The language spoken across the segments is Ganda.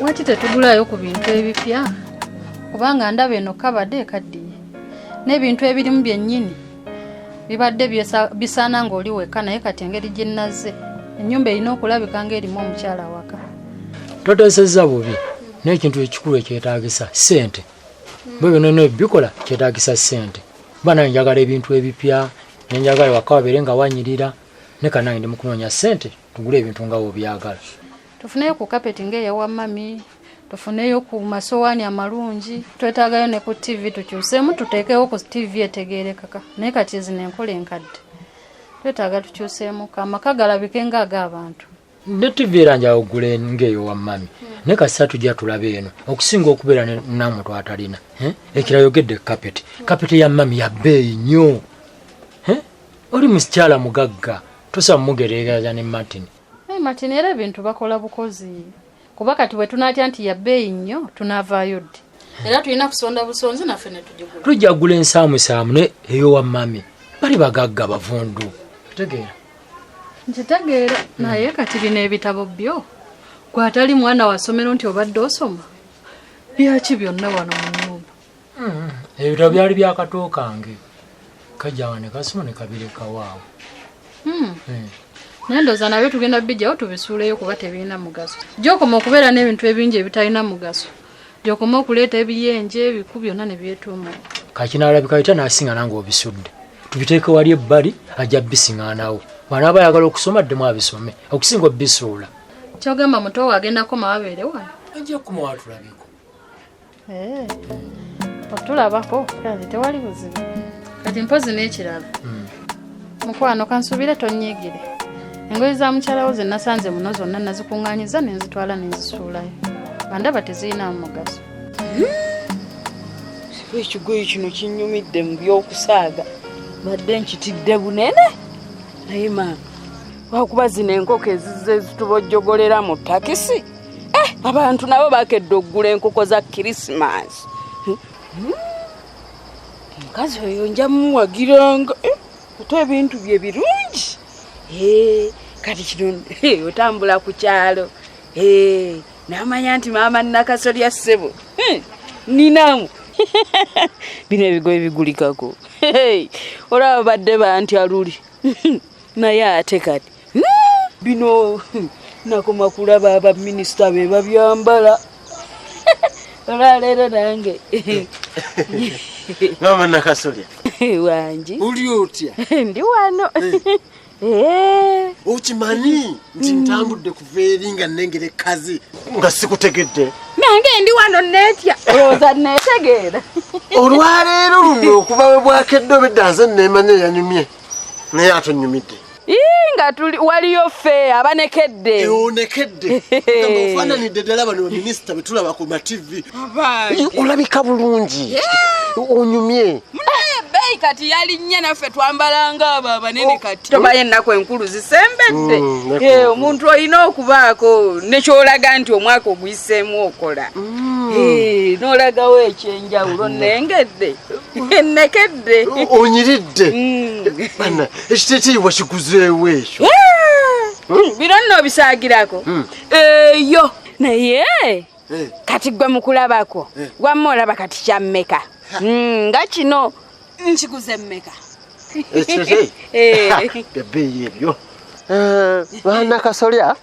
lwaki tetugulayo ku bintu ebipya kubanga ndaba eno kabade ekaddiye n'ebintu ebirimu byennyini bibadde bisaana ng'oli wekka naye kati engeri gye nnazze ennyumba erina okulabika ng'erimu omukyala waka toteesezza bubi n'ekintu ekikulu ekyetaagisa ssente bwe bino no bikola kyetaagisa ssente kuba naye njagala ebintu ebipya nenjagala waka wabeere nga wanyirira ne kanange ndi mu kunoonya ssente tugule ebintu nga obyagala tufuneyo ku kapeti ngaeyawa mami tufuneyo ku masowaani amalungi twetagayo ne ku tivi tukyusemu tuteekewo ku tivi etegerekaka naye kati ezino enkola enkadde twetaaga tukyusemu amaka galabike nga agaabantu ne tivi era njawo gule ngaeyo wa mami ne kasisa tujja tulaba eno okusinga okubeera namu twatalina eh? ekirayogedde kapeti kapeti ya mami yabeeyi nnyo eh? oli musikyala mugagga tusa mugereeraza ne martin hey, martin era ebintu bakola bukozi kuba kati bwe tunaatya nti yabbeeyi nnyo tunaavaayo ddi era tulina kusonda busonzi naffe netugigula tujja kugula ensaamusaamu ne eyowa mami bali bagagga bavundu kitegeera nkitegeera naye kati bino ebitabo byo gwatali mwana wasomero nti obadde osoma byaki byonna wano mu nyumba Mm-hmm. ebitabo byali byakato kange kajanga ne kasoma ne kabireka waawo hmm. eh. naye ndooza nabyo tugenda bijjawo tubisuuleyo kuba tebirina mugaso gyokoma okubeera n'ebintu ebingi ebitalina mugaso gyokoma okuleeta ebiyenje ebiku byonna ne byetuuma kakinaalabika bita nasinga nange obisudde tubiteeke wali ebbali ajja bisiŋanawo wanaaba ayagala okusoma ddemu abisome okusinga obisuula kyogamba mutowo agenda koma wabeere wano ajja kumawa tulabiko Eh, otulabako kati tewali buzibu kati mpozi n'ekirala hmm. mukwano kansuubire tonyigire engoye za mukyalawo ze nasanze muno zonna nazikuŋŋanyiza ne nzitwala ne nzisuulayo bandaba tezirinamu mugaso hmm. ekigoye kino kinyumidde mu by'okusaaga badde nkitidde bunene naye maama lwakuba zino enkoko ezizze zitubojjogolera mu takisi eh, abantu nabo bakedde okugula enkoko za kirisimansi hmm? hmm? omukazi oyo nja muwagiranga eh, ate ebintu bye birungi eh, kati kino otambula ku kyalo namanya nti maama nakasolya ssebo hmm, ninamu bino ebigoye bigulikako olaba badde bantya luli naye ate kati hmm, bino hmm, nakoma kulaba abaminisita be babyambala olwaleero nange mama nakasolya wangi uli otya ndi wano eh. Eh. okimanyi nti hmm. ntambudde kuva eri nga nengere kazi nga sikutegedde nange ndi wano netya olowooza netegeera olwaleero luno okuba we bwakedde obedda nze nemanya yanyumye naye atonyumidde nga tuli waliyo fe abanekedde eh, onekedde ofananidde ddala bano baminisita betulaba ku mativi olabika bulungi onyumye beeyi kati yalinnya naffe twambalanga abo abanene oh, kati tobayo ennaku enkulu zisembedde mm, eh, omuntu olina okubaako nekyolaga nti omwaka oguyiseemu okola mm. eh, n'olagawo ekyenjawulo mm. nengedde nakedde onyiridde bana ekiteteyiwa kikuzeewo ekyo biro nno obisagirako eyo naye kati gwe mukulabako wamma olaba kati kyammeka nga kino nkiguze mmeka ebeeyi ebyo baana kasolya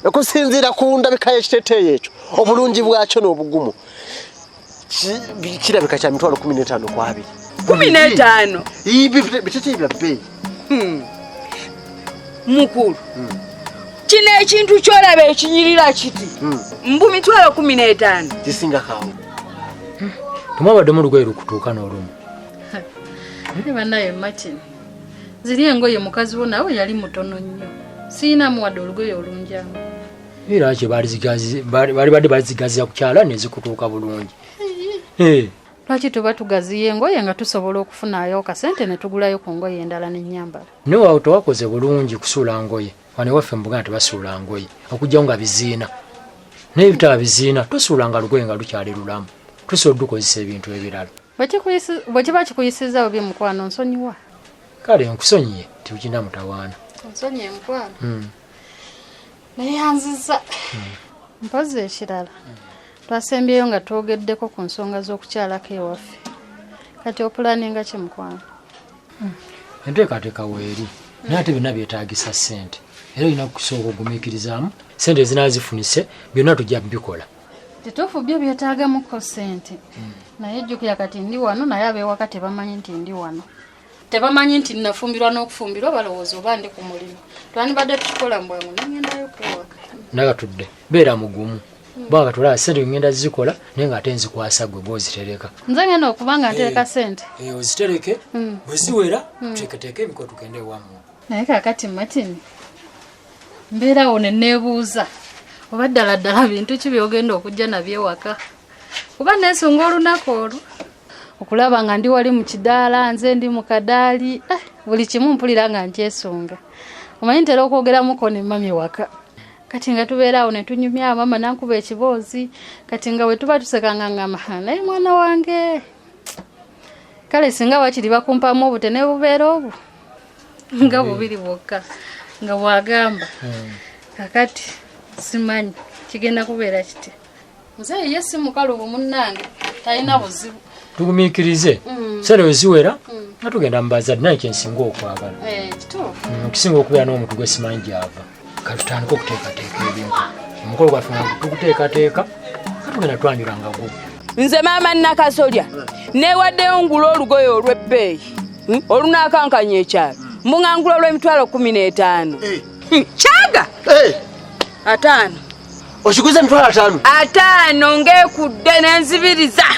okusinziira ku ndabika y'ekiteteeyi ekyo obulungi bwakyo n'obugumu kirabika kya mitwalo kumi n'etaano ku abiri kumi n'etaano biteteebya bbeeyi hmm. mukulu hmm. kino ekintu kyolaba ekinyirira kiti hmm. mbu mitwalo kumi n'etaano zisinga kaawo tumwabadde mu lugoye lukutuuka n'olumu naye banaye martin ziri engoye mukazi wo nawe yali mutono nnyo siinamuwadde olugoye olunjamu era kye bali badde bazigaziza ku kyala nezikutuuka bulungi lwaki tuba tugaziya engoye nga tusobola okufunayo kasente netugulayo ku ngoye endala nenyambala newawo tewakoze bulungi kusuula ngoye wane waffe mubuganda tebasuula ngoye okujjawo nga biziina naye bitaba biziina tosuula nga lugoye nga lukyali lulamu tusobola odukozesa ebintu ebirala bwekiba kikuyisiza obi mukwano nsonyiwa kale nkusonyiye tiukina mutawaana nsonyiye mukwano hmm. neyanziza hmm. mpozi ekirala twasembyeyo nga twogeddeko ku nsonga z'okukyalako ewaffe kati opulaninga ki mukwano hmm. enteekateeka weeri naye ate byonna byetaagisa ssente era olina kusooka ogumiikirizaamu ssente ezinaa zifunise byonna tujja bikola kituufu byo byetaagamuko ssente hmm. naye jjukira kati ndi wano naye abewaka tebamanyi nti ndi wano tebamanyi nti nafumbirwa n'okufumbirwa balowooza oba ndi ku mulimu twandibadde tukikola mbwangu nengendayo kwewaka nagatudde beera mugumu bwanga tulaba sente ngenda zikola naye nga ate nzikwasa gwe gwozitereka nze ngenda okuba nga ntereka eh, sente eh, ozitereke hmm. bweziwera hmm. tuteketeeke emiko tugende ewamu naye kakati martin mbeerawo neneebuuza oba ddala ddala bintu ki byogenda okujja nabyo ewaka kuba nesunga olunaku olwo okulaba nga ndi wali mu kidaala nze ndi mu kadaali eh, buli kimu mpulira nga nkyesunga omanyi ntera okwogeramuko ne mami waka kati nga tubeera awo ne tunyumya mama nankuba ekiboozi kati nga bwe tuba tusekanga ngama naye mwana wange kale singa wakiri bakumpamu obute ne bubeera obwo nga mm. bubiri bwokka nga bwagamba mm. kakati simanyi kigenda kubeera kitya muzeeyi ye si mukalubu munnange talina mm. buzibu tugumikirize mm. sera weziwera mm. nga tugenda mubazadde naye kyensinga okwagala eh, kisinga okubeera n'omuntu gwesimanyi gyava katutandika okuteekateeka ebintu omukolo gwaffe nga tukuteekateeka katugenda twanjula nga gu nze maama nakasolya newaddeyo ngula olugoye olw'ebbeeyi hmm, olunaakankanya ekyalo mungangula olw'emitwalo kumi n'etaano eh. hmm, kyaga eh. ataano okiguze emitwalo ataano ataano ng'ekudde nenzibiriza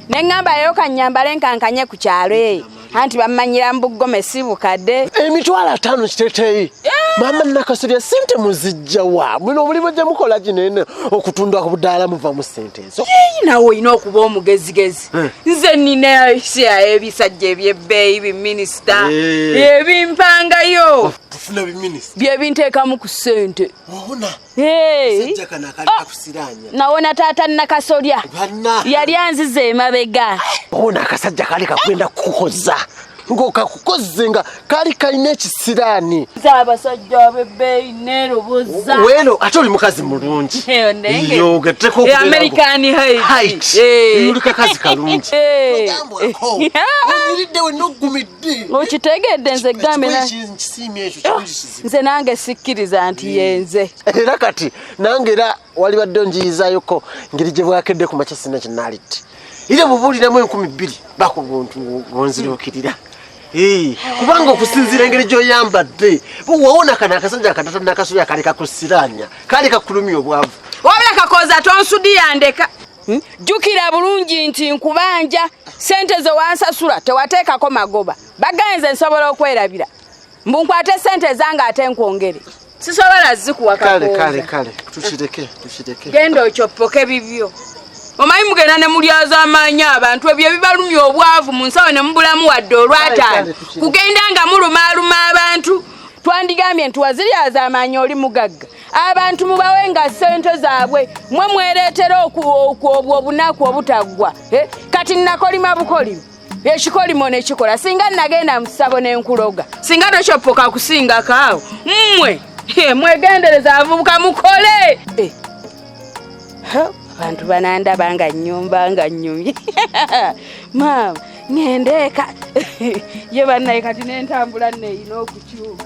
ne ŋŋambayo kannyambale nkankanye ku kyalo eyo eh. anti bamanyira mbuggome si bukadde emitwalo ataano kiteteeyi maama nakasolya sente muzijja wa mwino omulimu gye mukola ginene okutunda ku budaala muvamu sente ezo yeyi nawe olina okuba omugezigezi eh. nze nina sia ebisajja ebyebbeeyi biminisita eh. ebimpangayo byebinteekamu ku sente nawona taata nakasolya yali anziza emabega ona akasajja kali kakwenda kukoza ngokakukoze nga kali kalina ekisiraani abasajja abebbeeyi neroboza weno ate oli mukazi mulungi yogetekoamericanhitulikazi kalungi okitegedde nze gambe nze nange sikkiriza nti hmm. yenze era kati nange era walibadde onjiyizayoko ngeri gye bwakedde ku makya sina kinalitti era bubuuliramu enkumi bbiri baku buntu bonziruukirira hmm. kubanga okusinziira engeri gyoyambadde wawona kana akasajja akatata nakasoya kali kakusiranya kali kakulumya obwavu wabula kakoza tonsudiyandeka hmm? jjukira bulungi nti nkubanja sente zewansasula tewateekako magoba bagenze nsobola okwerabira mbu nkwate sente ezange ate nkwongere sisobola zikuwa kale kale kale tukireke tukireke genda okyoppoke bibyo omanyi mugenda ne mulyaza amaanyi abantu ebyo ebibalumya obwavu mu nsawo ne mubulamu wadde olwataano kugenda nga mulumaaluma abantu twandigambye nti waziryaza amaanyi oli mugagga abantu mubawe nga ssente zaabwe mwe mwereetera obwo obunaku obutaggwa eh, kati nakolima bukolima ekikolimo nekikola singa nagenda musabo nenkuloga singa tokyoppoka kusingako awo mmwe mwegendereza avubuka mukole eh. abantu banandaba nga nyumba nga nyumye maama ngendeeka ye bannaye kati nentambula neyina okukyuka